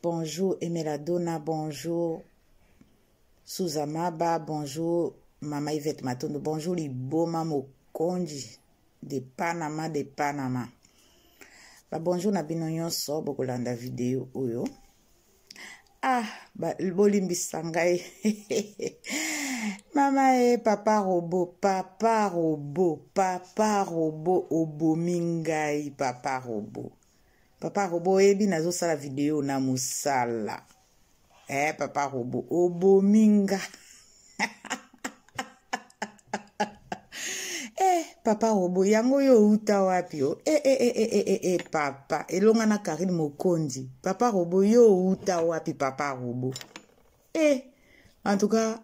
Bonjour Emela Dona, bonjour Souza Maba, bonjour Mama Yvette Matondo, bonjour Liboma Mokonji de Panama de Panama. Ba bonjour na bino nyonso bokolanda video oyo. Ah, bolimbisa ngai. Mama e papa robo, papa robo, papa robo obomi ngai papa robo. papa robo oyebi nazosala video na mosala eh papa robo obomi nga eh papa robo yango oyo outa wapi o eh, eh, eh, eh, eh, eh, papa elonga na karine mokonzi papa robo yo outa wapi papa robo eh en tout cas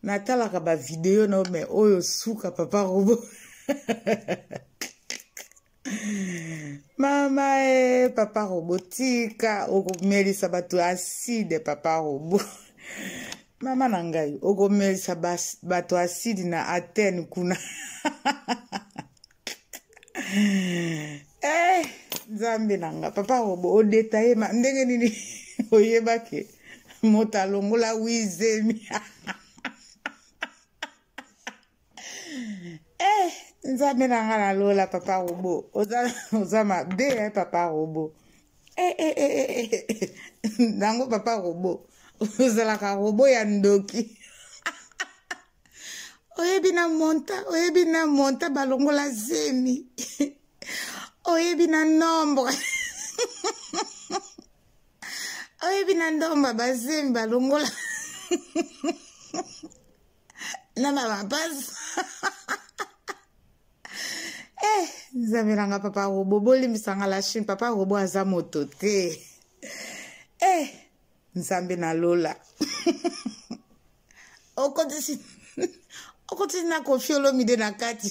natalaka bavideo na yo me oyo suka papa robo mama e papa robo tika okomelisa bato aside papa robo mama na ngai okomelisa bato aside na atene kuna eh, nzambe na nga papa robo odetaye ma ndenge nini oyebake moto alongola wizemi eh nzambe na nga na lola papa robo oza, oza mabe eh, papa robo eh, eh, eh, eh, eh. eh. nango papa robo ozalaka robo ya ndoki oyebi na monta oyebi na monta balongola zemi oyebi na nombre oyebi na ndomba bazemi balongola na na mapasi eh nzambe na nga papa robo bolimbisa nga la chine papa robo aza moto te eh nzambe na lola okotisi okotisi na kofi olomide na kati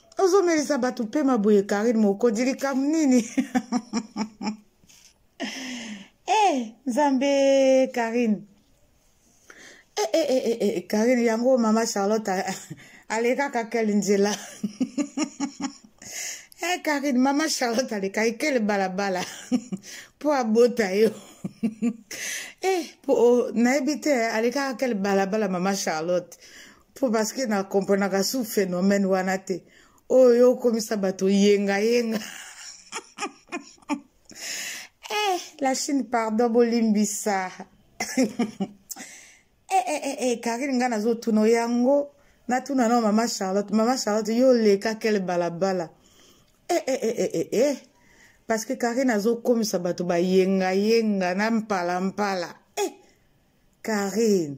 ozomelisa bato mpema boye karine mokonzi likambo nini e eh, hey, nzambe karine e eh, e eh, e e karine yango mama charlotte alekaka kele nzela e karine mama charlotte alekaki kele balabala mpo abota yo e po nayebi te alekaka kele balabala mama charlotte mpo parceke na komprenaka su phénomène wana te oyo yo okomisa bato yengayenga eh, la chine pardon bolimbisa eh, eh, eh, eh, karine ngai nazotuna yango natuna nao mama charlotte mama charlotte yo oleka kele balabala eh, eh, eh, eh, eh, eh. parce que karine azokomisa bato bayengayenga na mpalampala eh, karine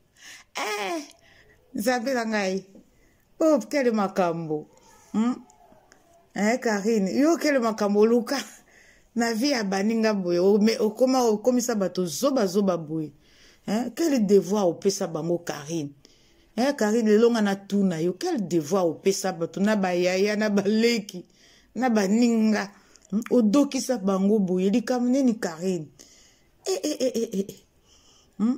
eh, nzambe na ngai o oh, kele makambo hmm? eh, karine yo kele makambo oluka na vie ya baninga boye okoma okomisa bato zobazoba boye eh, kele devoir opesa bango karine eh, karine lelo nga natuna yo kele devoir opesa bato na bayaya na baleki na baninga hmm? odokisa bango boye likambo nini karine eh, eh, eh, eh, eh. eh. Hmm?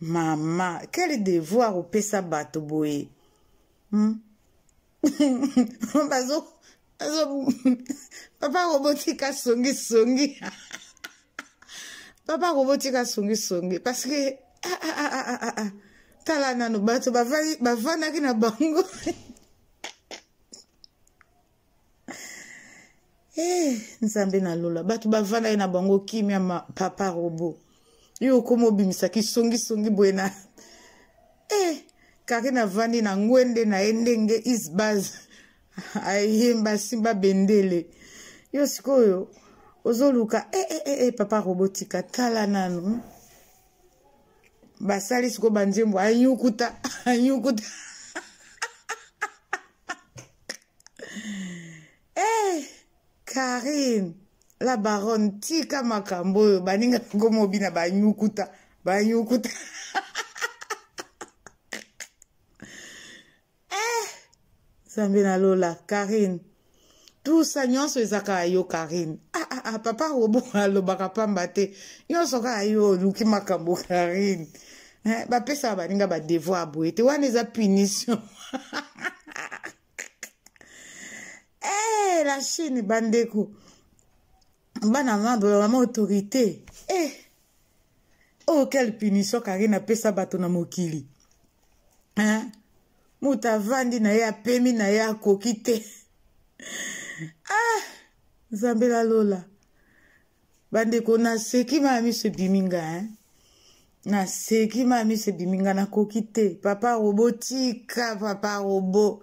mama quel devoir opesa bato boye hmm? bazo bazo papa kobotika songisongi papa kobotika songisongi parce que ah, ah, ah, ah, ah, ah. tala nano bato bavandaki na bango Hey, eh, nzambe na lola bato bavandaki na bango kimia ma papa robo yo okoma obimisaki songisongi boye na hey, eh, kaki navandi na ngwende na ye ndenge isbaz ayemba asimba bendele yo sikoyo ozoluka e eh, e e papa robotika tala nanu basali sikoyo banzembo anyukuta anyukuta hey, eh, karine la baronne tika makambo oyo baninga yango mobi na banyukuta banyukuta eh, zambe na lola karine tout ça nyonso eza kaka yo karine ah, ah, ah, papa robo alobaka pamba te nyonso kaka yo oluki makambo karine eh, bapesaka baninga badevoir boye te wana eza punition eh, la chine bandeko bana nga bola mama autorité eh oh quelle punition karine apesa bato na mokili hein moto avandi na ye apemi na ye akoki te ah nzambe la lola bandeko naseki maya miso ebimi nga hein naseki maya miso ebimi nga nakoki te papa robo tika papa robo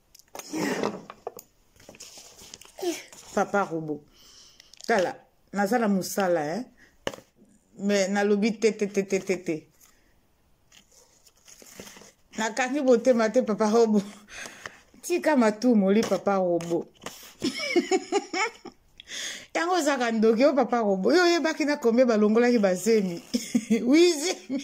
papa robo tala naza na mosala eh? me nalobi te te te te te te nakangi botema te papa robo tika matumoli papa robo yango ozaka ndoki yo papa robo yo oyebaki na kombe balongolaki bazemi wi zemi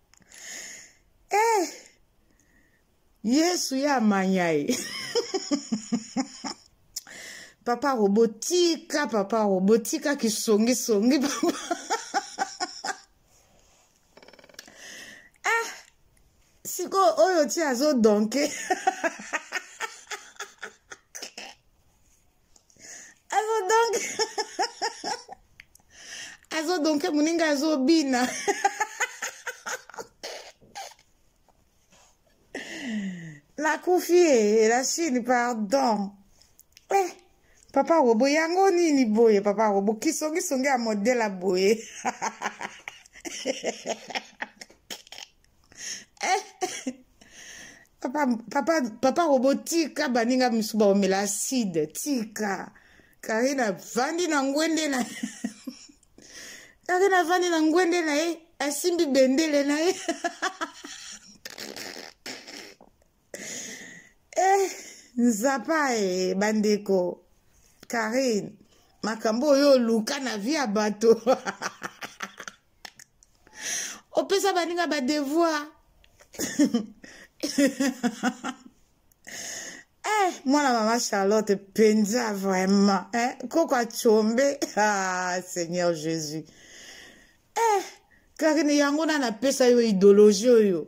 eh yesu ya manya ye papa robo tika papa robo tika kisongisongi papa ah sikoyo oyo ti azodonke azo donc azo donke moninga azobina nakufi ye la chine pardon eh, papa robo yango nini boye papa robo kisongisongi ya modela boye eh, papa, papa, papa robo tika baninga misu baomela acide tika kari navandi na ngwende na kari navandi na ngwende na ye asimbi bendele na ye eh, nzapa e bandeko karine makambo oyo oluka na vi ya bato opesa baninga badevoir eh, mwana mama charlotte mpenza vraiment eh, koko acombe ah, seigneur jésus eh, kakini yango na napesa yo idéologie oyo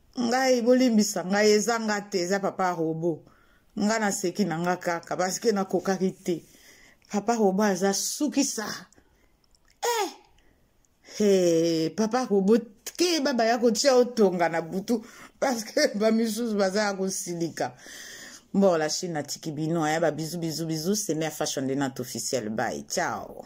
ngai bolimbisa ngai eza nga te eza papa robo nga naseki na nga kaka parceke nakokaki te papa robo aza sukisa eh! Hey, papa robo keba baya kotia otonga na butu parceke bamisusu baza ya kosilika bon la chine natiki bino aya babizu bizu bizu semea fashion de nat officiel bay ciao